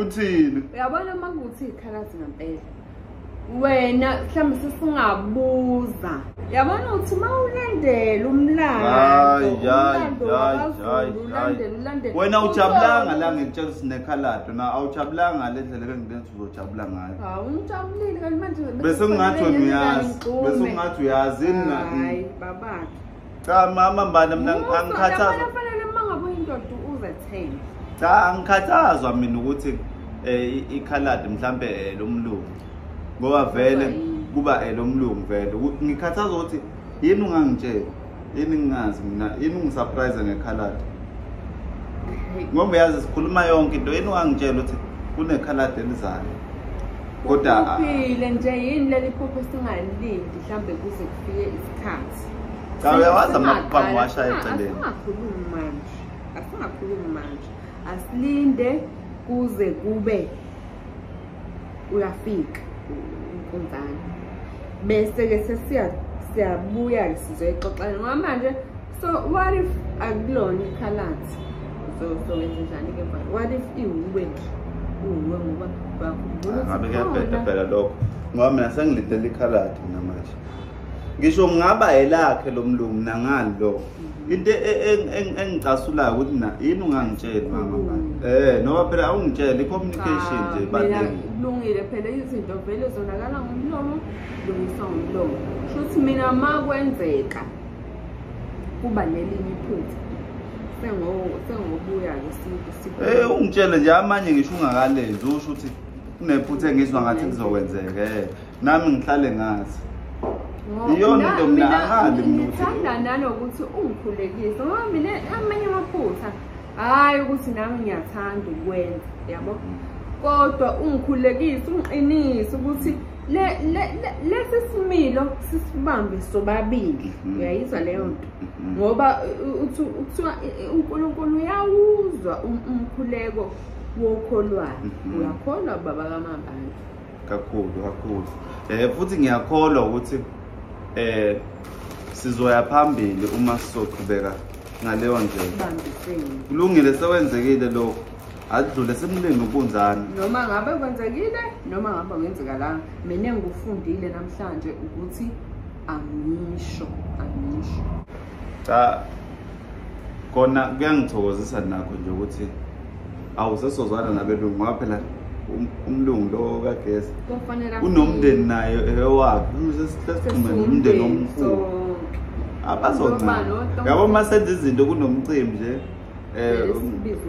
uthini uyabona uma kuthi ikhalazi ngampela wena mhlawumbe sesingabuza yabona ukuthi uma ulandela umlandoumlandelwena awujabulanga la ngikutshela ukuthi nekhalado na awujabulanga le ndlela bengibenza uzojabula ngayo bese kungathi wena uyazi bese kungathi uyazi cha mama mbane mina angikhathazwa kufanele uma ngabe uyindoda uzethembe cha angikhathazwa mina ukuthi eh ikhaladi mhlambe eh, lomlungu ngoba vele kuba eh, lomlungu vele ngikhathazwa ukuthi yini ungangitshela yini ngingazi mina yini ungisurprise ngekhaladi ngoba uyazi sikhuluma yonke into yini ungangitshela ukuthi kunekhaladi elizayo kodwa uphile nje yini leli phupho singalindi mhlambe kuze kufike isikhathi cha uyawazi amaqhamu washaya eceleni asingakhulumi manje asingakhulumi manje asilinde kuze kube uyafika unkunzana bese-ke sesiya siyabuya-ke sizoyixoxana ngoba manje so what if akulona ikhalathi sowenze njani-ke what if iwuwe nje uwuwe ngoba ngabe kuyabheda phela lokho ngoba mina sengilindele ikhalathi mina manje ngisho ngaba elakhe lo mlungu nangani lo mhm. into e, e, e, engicasulayo ukuthi na yini ungangitsheli mama ba mm. eh noma phela awungitsheli communication nje baningi kulungile phela izinto vele zonakala ngomlomo lungiswa ngomlomo shuthi mina ma kwenzeka kuba nelinye iphutha sengobuya ke siku eh ungitshele nje amanye ngisho ungakalezi usho ukuthi kunephutha engizwa ngathi kuzokwenzeka eh nami ngihlale ngazi iyona into mina angali mina ngithanda nanokuthi ungikhulekise ngoba mina amanye amaphutha hhayi ukuthi nami ngiyathanda ukwenza yabo mm. kodwa ungikhulekise ungiqinise ukuthi lesi similo sisibambe sobabili mm-hmm. uyayizwa leyo nto mm-hmm. ngoba kuthiwa unkulunkulu uyawuzwa um-, umkhuleko wokholwayo mm-hmm. uyakholwa baba kamabandla kakhulu kakhulu eh futhi ngiyakholwa ukuthi eh sizoya phambili uma sizoqhubeka ngaleyo ndlela kulungile sewenzekile lokho adlule simlinde ubunjani noma ngabe kwenzekile noma ngabe kwenzeka la mina ngikufundile namhlanje ukuthi angisho angisho cha kona kuyangithokozisa nakho nje ukuthi awu sesozwana nabelungu ngoba phela um, umlungu lo kagesi unomndeni naye ewakhe sesixhume nomndeni omkhulu abazoncana yabo uma senza izinto kunomcimbi nje um eh,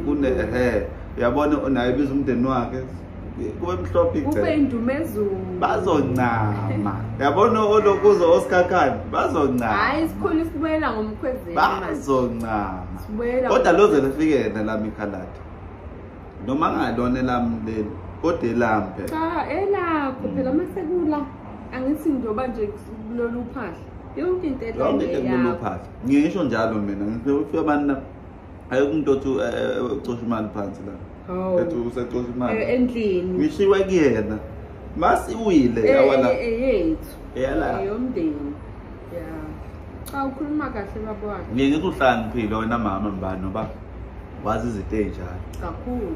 um, um yabona naye biza umndeni wakhe kube mhlophe kube indumezulu bazoncama yabona olokuzo osikhakhani bazoncama hayi sikhona sibuyela ngomkhwezeni bazoncama kodwa loze lifike yena lami ikhaladi noma ngalona elami leli kodwa elami phela cha elakho phela uma sekula angithi njengoba nje kulolu phahla yonke into elaleyayo ngisho njalo mina ngifike abantu ayikho umuntu othi eh, eh, ucosha imali phansi la oh. ethi usecosha imali eh, endlini ngishiwe kuyena masiwile yawala eyethu eyala yomndeni ya cha ukhuluma kahle baba wakhe ngeke ngithi uhlaniphile wena mama mbani noba wazi izinto ezinjalo kakhulu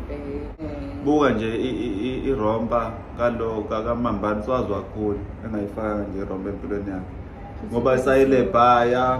buka nje irompa kalo kakamambani siwazi wakhulu engayifaka nje irompa empilweni yakhe ngoba isayilebhaya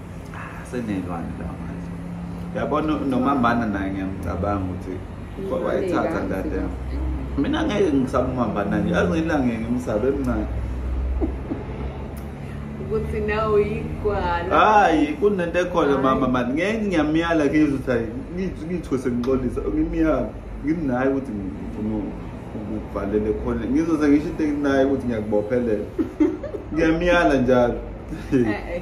senelwane la manje yabona nomambana naye ngiyamcabanga ukuthi wayithatha ndade yami mina ngeke ngisaba umambana nje azi ngilange ngimsabe emncane ukuthi nawe yigwala hayi kunento ekhona mama mani ngeke ngiyamyala ngizwe ukuthi hayi ngithiwe sengixolisa ngimyala nginaye ukuthi ngifuna ukuvalele khona ngizoze ngisho into enginayo ukuthi ngiyakubophelela ngiyamyala njalo eh, eh.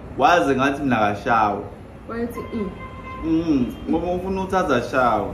waze ngathi mina kashawa wayethi mm. mm ngoba ufuna ukuthi azashawa